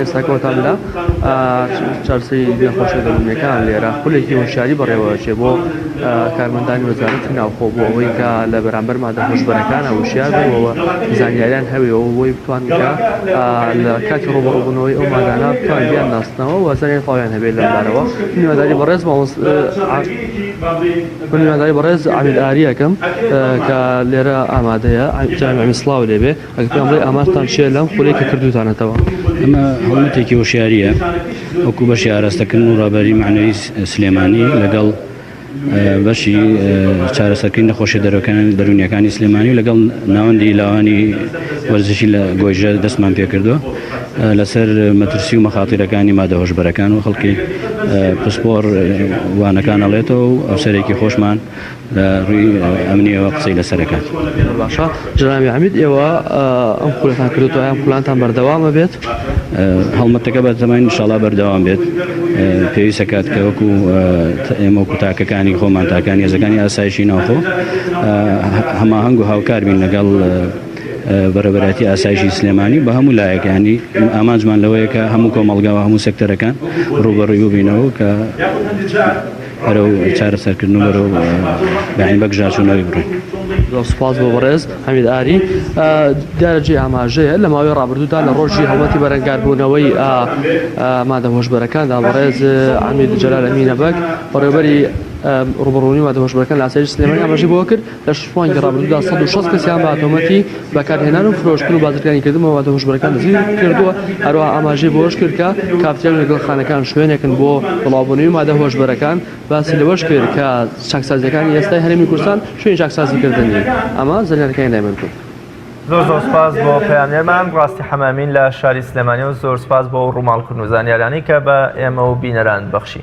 ئێستا کۆتان لە چارەسەری نەخۆشیە دەروونیەکان لێرە خولێکی هۆشیاری بەڕێوەچێ بۆ کارمەندانی وەزارەتی ناوخۆ بۆ ئەوەی کە لە بەرامبەر مادە هۆشبەرەکانە وشیار بەوە زانیاریان هەوێەوە بۆی بتوان کە لە کاتی ڕۆبەڕبوونەوەی ئەو مادانە بتوان بیان ناسنەوە وەزانیان تاویان هەبێت لەمبارەوە میوەداری بەڕێز مامۆس بەڕێز عامل ئاریەکەم کە لێرە ئامادەیە جامی سلااو لێبێ ئەگەر پێیان بڵێی ئامانجتان چیە لەم خولەی کە کردووتانەتەوە؟ ئەمە هەڵمەتێکی هۆشیارییە وەکو بەشی ئاراستەکردن و ڕابەری مەعنەوی سلێمانی لەگەڵ بەشی چارەسەرکردنی نەخۆشیە دەروەکانی دەروونیەکانی سلێمانی و لەگەڵ ناوەندی لاوانی وەرزشی لە گۆیژە دەستمان پێکردووە لەسەر مەترسی و مەخاتیرەکانی مادە هۆشبەرەکان و خەڵکی پسپۆڕ وانەکان ئەڵێتەوە و ئەفسەرێکی خۆشمان لە ڕووی ئەمنیەوە قسەی لەسەر ئەکات. زۆر باشە جەنابی عەمید ئێوە ئەم خولەتان کردوتەوە ئەم خولانتان بەردەوامە بێت؟ هەڵمەتەکە بە تەمای انشاءاللە بەردەوام بێت پێویست ئەکات کە وەکو ئێمە وەکو تاکەکانی خۆمان تاکانی هێزەکانی ئاسایشی ناوخۆ هەماهەنگ و هاوکار بین لەگەڵ بەرەبەرایەتی ئاسایشی سلێمانی بە هەموو لایەکانی ئامانجمان لەوەیە کە هەموو کۆمەڵگاوە هەموو سەکتەرەکان ڕوبەڕوی ببینەوە کە بەرەو چارەسەرکردن و بەرەو بەعین بەگژاچوونەوەی بڕۆین. زۆر سوپاس بۆ بەڕێز حەمید ئاری دیارەجێ ئاماژەیە لە ماوەی ڕابردوودا لە ڕۆژی هەڵمەتی بەرەنگاربوونەوەی مادە هۆشبەرەکاندا بەڕێز عمید جەلال ئەمینە بەگ بەڕێوبەری ڕوبڕونی مادە هۆشبەرەکان لە ئاسایش سلێمانی ئاماژەی بۆ کرد لە شەش مانگی ڕابردوودا سەد و شەست کەسیان بە تۆمەتی بەکارهێنان و فرۆشتن و بازرگانیکردن بە ماددە هۆشبەرەکان دەستگیرکردووە، هەروەها ئاماژەی بەوەشکرد کە کافتریا و نەگۆرخانەکان شوێنێکن بۆ بڵاوبوونەوەی ماددە هۆشبەرەکان، باسی لەوەشکرد کە چاکسازییەکانی ئێستای هەرێمی کوردستان شوێنی چاکسازیکردن نین، ئەمە زانیارییەکانی لای من بوون. زۆر زۆر سوپاس بۆ پەیامنێرمان ڕاستی حەمامین لە شاری سلێمانی و زۆر سوپاس بۆ ئەو ڕووماڵکردن و زانیاریانەی کە بە ئێمە و بینەران بەخشی.